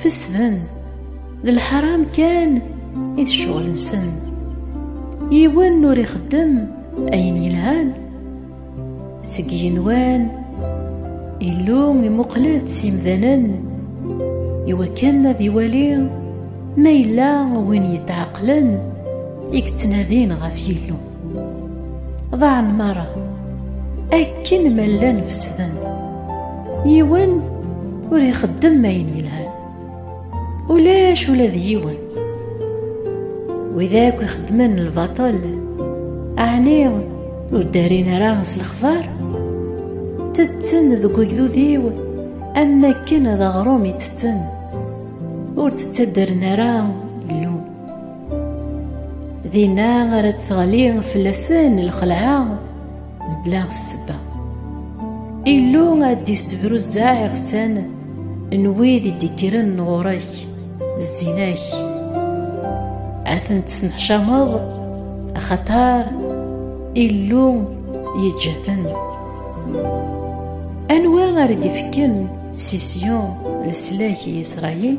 Fesden, d lḥaram kan i d ccɣel-nsen. Yiwen ur ixeddem ayen yelhan. Seg yenwan, Illu imuqel-d s imdanen iwakken ad iwali ma yella win yetɛeqlen i yettnadin ɣef Yillu. ḍaɛen merra akken ma llan fesden yiwen ur ixeddem ayen yelhan ulac ula d yiwen wid akk ixeddmen lbaṭel ɛni ur ddarin ara s lexbar tetten deg ugdud-iw am akken d aɣrum i tetten ur d-ttaddren ara dinna ara d-teɣli fell-asen lxelɛa mebla ssebba Illu ad d-issebruzzeɛ iɣsan n wid i d-ikkren ɣur-ak zzin-ak ad ten-tesneḥcameḍ axaṭar Illu yeǧǧa-ten anwa ara d-ifken si Syon leslak i Isṛayil